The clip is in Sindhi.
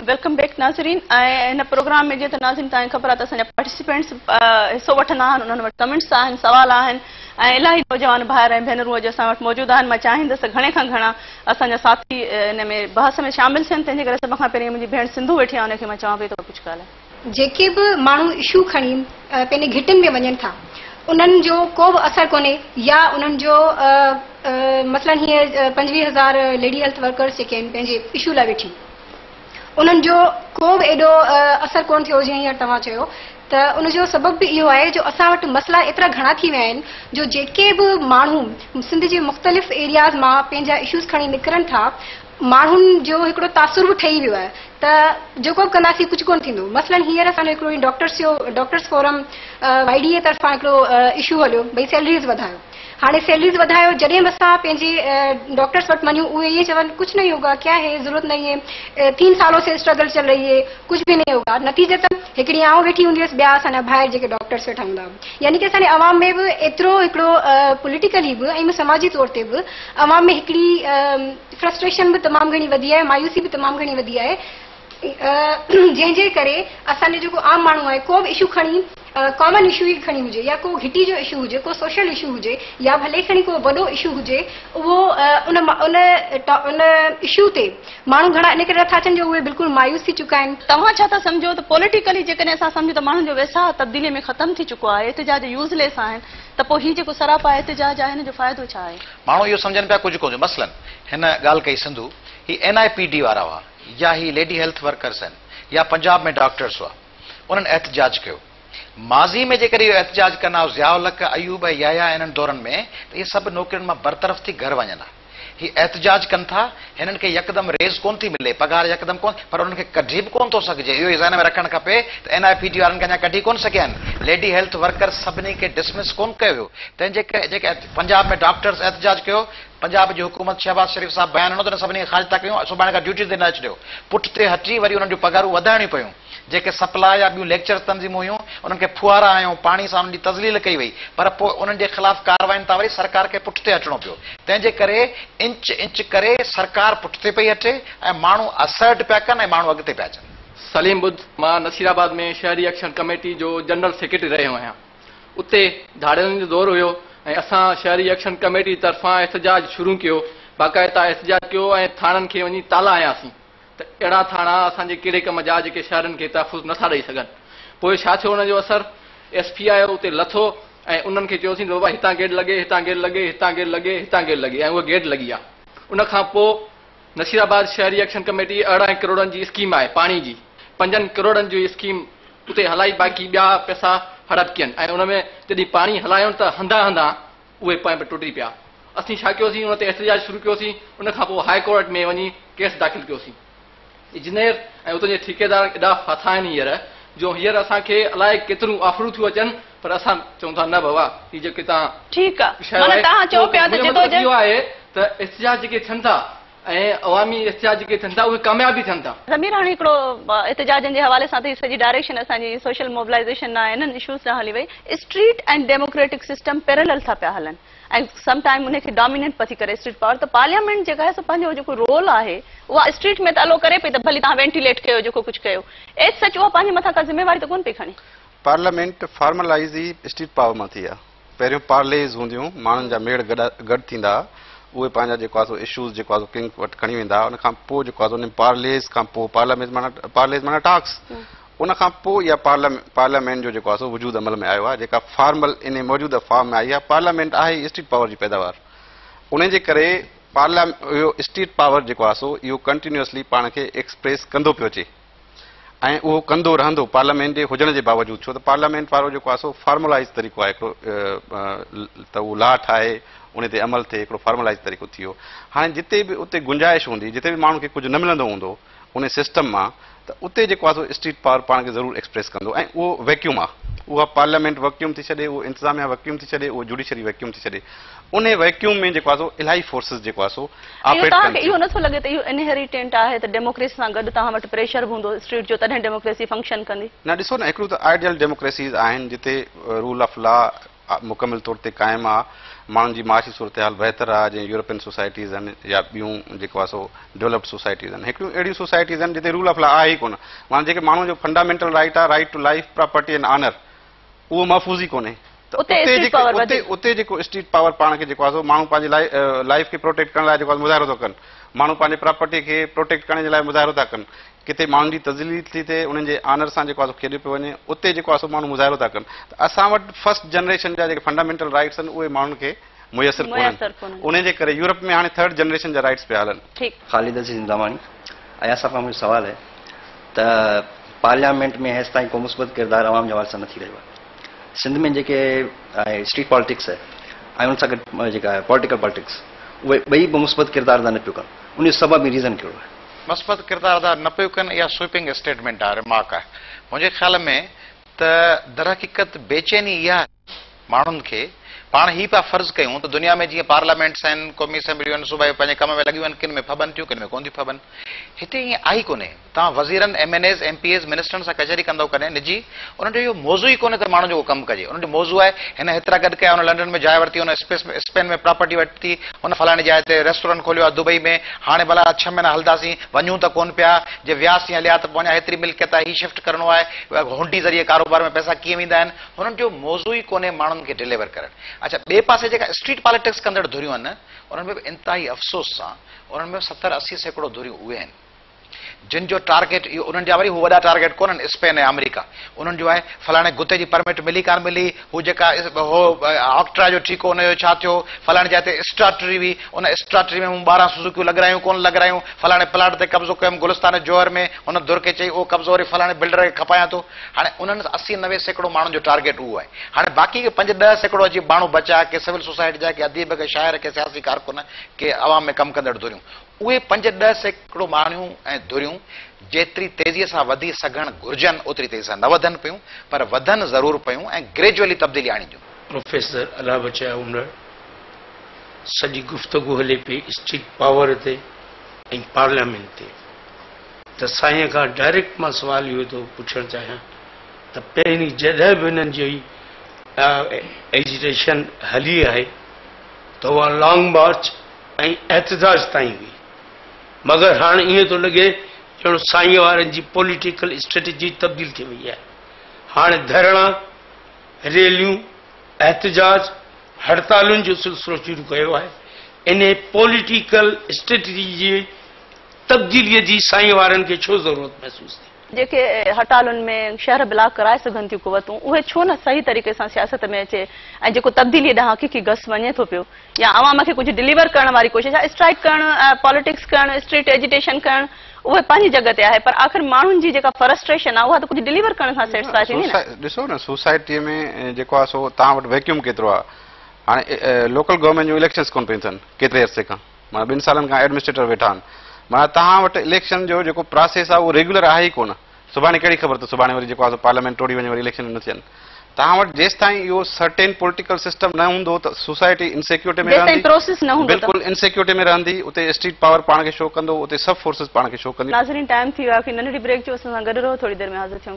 ويلڪم بيڪ ناظرين ۽ هن پروگرام ۾ جيئن ته ناظرين تان خبر آهي ته اسان جا پارٽيسپينٽس حصو وٺندا آهن انهن وٽ ڪمينٽس آهن سوال آهن ۽ الاهي نوجوان ڀائر ۽ ڀينرون اڄ اسان وٽ موجود آهن مان چاهيندس ته گهڻي کان گهڻا اسان جا ساٿي ان ۾ بحث ۾ شامل ٿين تنهن جي ڪري سڀ کان پهرين منهنجي ڀيڻ سنڌو ويٺي آهي ان کي مان چوان پئي ته ڪجهه ڳالهه جيڪي به ماڻهو اشو کڻي پنهنجي گهٽين ۾ وڃن ٿا انهن جو ڪو به اثر ڪونهي يا انهن جو مثلا هيء پنجويهه هزار ليڊي هيلٿ ورڪرز جيڪي آهن پنهنجي اشو لاء ويٺي انهن جو ڪو به ايڏو اثر ڪونه ٿيو جيئن هينئر توهان چيو ته ان جو سبب به اهو آهي جو اسان وٽ مسئلا ايترا گهڻا ٿي ويا آهن جو جيڪي به ماڻهو سنڌ جي مختلف ايرياز مان پنهنجا اشوز کڻي نڪرن ٿا ماڻهن جو هڪڙو تاثر به ٺهي ويو آهي ته جيڪو به ڪنداسين ڪجهه ڪونه ٿيندو مثلاً هينئر اسان جو هڪڙو هي ڊاڪٽرس جو doctors forum Y D A طرفان هڪڙو اشو هليو ڀئي سيلريز وڌايو هاڻي سيلريز وڌايو جڏهن به اسان پنهنجي ڊاڪٽرس وٽ وڃون اهي ائين چون ڪجهه نهي هوگا ڪيا هي ضرورت نهي هي تين سالون سي اسٽرگل چل رهي هي ڪجهه به نهي هوگا نتيجتاً هڪڙي آئون ويٺي هوندي هيس ٻيا اسان جا ڀائر جيڪي ڊاڪٽرس ويٺا هوندا هئا يعني ڪي اسان جي عوام ۾ به ايترو هڪڙو پوليٽيڪلي به ۽ سماجي طور تي به عوام ۾ هڪڙي فرسٽريشن به تمام گهڻي وڌي آهي مايوسي به تمام گهڻي وڌي آهي جنهن جي ڪري اسان جو جيڪو عام ماڻهو آهي ڪو به اشو کڻي ڪامن اشو ئي کڻي هجي يا ڪو گهٽي جو اشو هجي ڪو سوشل اشو هجي يا ڀلي کڻي ڪو وڏو اشو هجي اهو ان ان ان اشو تي ماڻهو گهڻا ان ڪري نٿا اچن جو اهي بلڪل مايوس ٿي چڪا آهن. توهان ڇا ٿا سمجهو ته پوليٽيڪلي جيڪڏهن اسان سمجهون ته ماڻهن جو ويساهه تبديلي ۾ ختم ٿي چڪو آهي احتجاج يوز ليس آهن ته پوء هي جيڪو سراپا احتجاج آهي ان جو فائدو ڇا آهي؟ ماڻهو اهو سمجهن پيا ڪجهه ڪجهه مثلاً هن ڳالهه ڪئي سنڌو هي اين آء پي ڊي وارا هئا يا هي ليڊي هيلٿ ورڪرز آهن يا پنجاب ۾ ڊاڪٽرز هئا انهن احتجاج ڪيو ماضي ۾ جيڪڏهن اهو احتجاج ڪن ها ضياء الحق ايوب ۽ يحيٰ انهن دورن ۾ ته اهي سڀ نوڪرين مان برطرف ٿي گهر وڃن ها. هي احتجاج ڪن ٿا، هنن کي يڪدم ريز ڪونه ٿي ملي، پگهار يڪدم ڪونه ٿي، پر انهن کي ڪڍي به ڪونه ٿو سگهجي، اهو ئي ذهن ۾ رکڻ کپي ته اين آء پي ٽي وارن کي اڃا ڪڍي ڪونه سگهيا آهن، ليڊي هيلٿ ورڪرز سڀني کي ڊسمس ڪونه ڪيو ويو، تنهن جي ڪري جيڪي پنجاب ۾ ڊاڪٽرز احتجاج ڪيو، پنجاب جي حڪومت شهباز شريف صاحب بيان ڏنو ته هن سڀني کي خارج ٿا ڪيون، سڀاڻي کان ڊيوٽي تي نه اچجو، پٺتي هٽي وري انهن جون پگهارون وڌائڻيون پيون. جيڪي سپلا يا ٻيون ليڪچرز تنظيمون هيون، انهن کي ڦوهارا هنيو، پاڻي سان انهن جي تذليل ڪئي وئي، پر پوء انهن جي خلاف ڪاررواين تان وري سرڪار کي پٺتي هٽڻو پيو. تنهن جي ڪري انچ انچ ڪري سرڪار پٺتي پئي هٽي ۽ ماڻهو Assert پيا ڪن ۽ ماڻهو اڳتي پيا اچن. سليم ٻڌ، مان نصير آباد ۾ شهري ايڪشن ڪميٽي جو جنرل سيڪريٽري رهيو آهيان. اتي ڌاڙيلن جو دور هيو ۽ اسان شهري ايڪشن ڪميٽي طرفان احتجاج شروع ڪيو، باقاعده احتجاج ڪيو ۽ ٿاڻن کي وڃي تالا هنياسين. ته اهڙا ٿاڻا اسان جي ڪهڙي ڪم جا جيڪي شهرين کي تحفظ نه ٿا ڏئي سگهن. پوء ڇا ٿيو ان جو اثر؟ ايس پي آيو اتي لٿو ۽ انهن کي چيوسين ته بابا هتان گيٽ لڳي، هتان گيٽ لڳي، هتان گيٽ لڳي، هتان گيٽ لڳي ۽ اها گيٽ لڳي آ. ان کان پوء نصير آباد شهري ايڪشن ڪميٽي ارڙهن ڪروڙن جي اسڪيم آهي پاڻي جي، پنجن ڪروڙن جي اسڪيم اتي هلائي باقي ٻيا پئسا هڙپ ڪين ۽ ان ۾ جڏهن پاڻي هلايون ته هنڌان هنڌان اهي پويان به ٽڙي پيا. اسين ڇا ڪيوسين ان تي احتجاج شروع ڪيوسين ان کان پوء هاء ڪورٽ ۾ وڃي ڪيس داخل ڪيوسين. اجنير ۽ اتان جي ٺيڪيدارن ايڏا ڦاٿا آهن هينئر جو هينئر اسان کي الائي ڪيتريون آفرون ٿيون اچن پر اسان چئون ٿا نه بابا هي جيڪي توهان ٺيڪ آ معنيٰ توهان چئو پيا ته جدوجهد. منهنجو مطلب اهو آهي ته احتجاج جيڪي ٿين ٿا. ۽ عوامي احتجاج جيڪي ٿين ٿا اهي ڪامياب به ٿين ٿا. ضمير هاڻي هڪڙو احتجاجن جي حوالي سان ته هي سڄي ڊائريڪشن اسان جي سوشل موبلائيزيشن ڏانهن انهن اشوز ڏانهن هلي وئي. اسٽريٽ ۽ ڊيموڪريٽڪ سسٽم پيرلل ٿا پيا هلن ۽ سم ٽائيم انهي کي ڊامينيٽ پئي ٿي ڪري اسٽريٽ پاور ته پارليامينٽ جيڪا آهي سو پنهنجو جيڪو رول آهي اها اسٽريٽ ۾ ته الو ڪري پئي ته ڀلي توهان وينٽيليٽ ڪيو جيڪو ڪجهه ڪيو ايز سچ اها پنهنجي مٿان ڪا ذميواري ته ڪونه پئي کڻي. پارليامينٽ فارملائيز ئي اسٽريٽ پاور مان ٿي آهي. پهريون پارليز هونديون، ماڻهن جا ميڙ گڏ ٿيندا ها، اهي پنهنجا جيڪو آسو اشوز جيڪو آسو ڪنگ وٽ کڻي ويندا ها، ان کان پوء جيڪو آسو انهن پارليز کان پوء پارليز معنيٰ پارليز معنيٰ ٽاڪس ان کان پوء اها پارليامينٽ جو جيڪو آسو وجود عمل ۾ آيو ها، جيڪا فارمل انهي موجوده فارم ۾ آئي ها، پارليامينٽ آهي ئي اسٽيٽ پاور جي پيداوار، انهي جي ڪري پارليامينٽ اهو اسٽيٽ پاور جيڪو آسو اهو ڪنٽينيوسلي پاڻ کي ايڪسپريس ڪندو پيو اچي. ۽ اهو ڪندو رهندو پارليامينٽ جي هجڻ جي باوجود ڇو ته پارليامينٽ وارو جيڪو آهي سو فارملائيز طريقو آهي هڪڙو ته اهو لا ٺاهي ان تي عمل ٿئي هڪڙو فارملائيز طريقو ٿي ويو هاڻي جتي به اتي گنجائش هوندي جتي به ماڻهن کي ڪجهه نه ملندو هوندو ان سسٽم مان ته اتي جيڪو آهي سو اسٽريٽ پاور پاڻ کي ضرور ايڪسپريس ڪندو ۽ اهو ويڪيوم آهي اها پارليامينٽ وڪيوم ٿي ڇڏي اهو انتظاميه وڪيوم ٿي ڇڏي اهو جوڊيشري وڪيوم ٿي ڇڏي انهي ويڪيوم ۾ جيڪو آهي سو الاهي فورسز جيڪو آهي سو آپريٽ ڪن ٿيون. توهان کي اهو نٿو لڳي ته اهو انهيريٽينٽ آهي ته ڊيموڪريسي سان گڏ توهان وٽ پريشر به هوندو اسٽريٽ جو تڏهن ڊيموڪريسي فنڪشن ڪندي. نه ڏسو نه هڪڙيون ته آئيڊيل ڊيموڪريسيز آهن جتي رول آف لا مڪمل طور تي قائم آهي ماڻهن جي معاشي صورتحال بهتر آهي جيئن يورپين سوسائٽيز آهن يا ٻيون جيڪو آهي سو ڊولپڊ سوسائٽيز آهن هڪڙيون اهڙيون سوسائٽيز آهن جتي رول آف لا آهي ئي ڪونه معنيٰ جيڪي ماڻهو جو فنڊامينٽل رائيٽ آهي right to life property and honour اهو محفوظ ئي ڪونهي. اتي اسٽريٽ پاور وڌي. اتي جيڪو اسٽريٽ پاور پاڻ کي جيڪو آهي ماڻهو پنهنجي لاء لائيف کي پروٽيڪٽ ڪرڻ لاء جيڪو آهي مظاهرو ٿو ڪن. ماڻهو پنهنجي پراپرٽي کي پروٽيڪٽ ڪرڻ جي لاء مظاهرو ٿا ڪن. ڪٿي ماڻهن جي تذليل ٿي ٿئي، انهن جي آنر سان جيڪو آهي کيڏيو پيو وڃي. اتي جيڪو آهي ماڻهو مظاهرو ٿا ڪن. ته اسان وٽ فرسٽ جنريشن جا جيڪي فنڊامينٽل رائيٽس آهن اهي ماڻهن کي. ميسر ڪونهن انهي جي ڪري يورپ ۾ هاڻي ٿرڊ جنريشن جا رائيٽس پيا هلن. خالد عزيز انداماڻي اياز صاحب کان منهنجو سوال آهي ته پارليامينٽ ۾ هيستائين ڪو مثبت ڪردار عوام جي حوالي سان نه ٿي رهيو آهي سنڌ ۾ جيڪي آهي اسٽريٽ پالٽڪس آهي ۽ ان سان گڏ جيڪا آهي پولٽيڪل پالٽڪس اهي ٻئي به مثبت ڪردار ادا نه پيو ڪن ان جو سبب ۽ ريزن ڪهڙو آهي. مثبت ڪردار ادا نه پيو ڪن اها سوئپنگ اسٽيٽمينٽ آهي رمارڪ آهي منهنجي خيال ۾ ته درحقيقت بيچيني اها آهي. ماڻهن کي پاڻ هي پيا فرض ڪيون ته دنيا ۾ جيئن پارليامينٽس آهن، قومي اسيمبليون آهن، صوبائيون پنهنجي ڪم ۾ لڳيون آهن، ڪن ۾ ڦٻن ٿيون، ڪن ۾ ڪونه ٿيون ڦٻن. هتي ائين آهي ئي ڪونهي. توهان وزيرن، M N As, M P As, منسٽرن سان ڪچهري ڪندئو ڪڏهن نجي، انهن جو اهو موضوع ئي ڪونهي ته ماڻهن جو ڪو ڪم ڪجي. انهن جو موضوع آهي، هن هيترا گڏ ڪيا، هن لنڊن ۾ جاء ورتي، هن اسپين ۾ پراپرٽي ورتي، هن فلاڻي جاء تي ريسٽورنٽ کوليو آهي دبئي ۾، هاڻي ڀلا ڇهه مهينا هلنداسين، وڃون ته ڪونه پيا، جي وياسين هليا ته پوء اڃا هيتري ملڪيت آهي، هي شفٽ ڪرڻو آهي، هونڊي ذريعي ڪاروبار ۾ پئسا ڪيئن ويندا آهن، هنن جو موضوع ئي ڪونهي ماڻهن کي ڊليور ڪرڻ. اڇا ٻئي پاسي جيڪا اسٽريٽ پاليٽڪس ڪندڙ ڌريون آهن انهن ۾ به انتهائي افسوس سان انهن ۾ ستر اسي سيڪڙو ڌريون اهي آهن جن جو ٽارگيٽ اهو انهن جا وري هو وڏا ٽارگيٽ ڪونهن اسپين ۽ آمريڪا انهن جو آهي فلاڻي گتي جي پرمٽ ملي ڪانه ملي هو جيڪا هو آڪٽرا جو ٺيڪو ان جو ڇا ٿيو فلاڻي جاء تي اسٽراٽري هئي ان اسٽراٽري ۾ مون ٻارهن سوزوڪيون لڳرايون ڪونه لڳرايون فلاڻي پلاٽ تي قبضو ڪيم گلستان جوهر ۾ هن ڌر کي چئي اهو قبضو وري فلاڻي بلڊر کي کپايان ٿو هاڻي انهن اسي نوي سيڪڙو ماڻهن جو ٽارگيٽ اهو آهي. هاڻي باقي ڪي پنج ڏهه سيڪڙو جي ماڻهو بچيا، ڪي سول سوسائٽي جا، ڪي اديب، ڪي شاعر، ڪي سياسي ڪارڪن، ڪي عوام ۾ ڪم ڪندڙ ڌريون. اهي پنج ڏهه سيڪڙو ماڻهيون ۽ ڌريون جيتري تيزيء سان وڌي سگهڻ گهرجن اوتري تيزي سان نه وڌن پيون پر وڌن ضرور پيون ۽ گريجوئلي تبديلي آڻينديون. پروفيسر الله بچايو اونڙ، سڄي گفتگو هلي پئي اسٽيٽ پاور تي ۽ پارليامينٽ تي. ته سائين کان ڊائريڪٽ مان سوال اهو ٿو پڇڻ چاهيان ته پهرين جڏهن به هنن جي ايجيٽيشن هلي آهي ته اها لانگ مارچ ۽ احتجاج تائين هئي مگر هاڻ ائين ٿو لڳي ڄڻ سائين وارن جي پوليٽيڪل اسٽريٽجي تبديل ٿي وئي آهي هاڻي ڌرڻا ريليون احتجاج هڙتالن جو سلسلو شروع ڪيو آهي انهي پوليٽيڪل اسٽريٽجي جي تبديليء جي سائينء وارن کي ڇو ضرورت محسوس ٿي؟ جيڪي هٽالن ۾ شهر بلاڪ ڪرائي سگهن ٿيون قوتون، اهي ڇو نه صحيح طريقي سان سياست ۾ اچي ۽ جيڪو تبديليء ڏانهن حقيقي گس وڃي ٿو پيو يا عوام کي ڪجهه ڊليور ڪرڻ واري ڪوشش آهي. اسٽرائيڪ ڪرڻ، پاليٽڪس ڪرڻ، اسٽريٽ ايجيٽيشن ڪرڻ، اهي پنهنجي جڳهه تي آهي پر آخر ماڻهن جي جيڪا فرسٽريشن آهي اها ته ڪجهه ڊليور ڪرڻ سان سيٽسفاء ٿيندي نه؟ ڏسو نه سوسائٽيء ۾ جيڪو آهي سو توهان وٽ ويڪيوم ڪيترو آهي. هاڻي لوڪل گورنمينٽ جون اليڪشنز ڪونه پيون ٿين ڪيتري عرصي کان. معنيٰ ٻن سالن کان ايڊمنسٽريٽر ويٺا آهن. معنيٰ تهان وٽ اليڪشن جو جيڪو پراسيس آهي اهو ريگيولر آهي ئي ڪونه. سڀاڻي ڪهڙي خبر ته سڀاڻي وري جيڪو آهي سو پارليامينٽ ٽوڙي وڃي وري اليڪشن نه ٿين. تهان وٽ جيستائين اهو سرٽين پوليٽيڪل سسٽم نه هوندو ته سوسائٽي انسيڪيورٽي ۾ رهندي. بلڪل انسيڪيورٽي ۾ رهندي. اتي اسٽريٽ پاور پاڻ کي شو ڪندو. اتي سڀ فورسز پاڻ کي شو ڪنديون. ناظرين ٽائيم ٿي ويو آهي ڪي ننڍڙي بريڪ جو اسان سان گڏ رهو ٿوري دير ۾ حاضر ٿيون.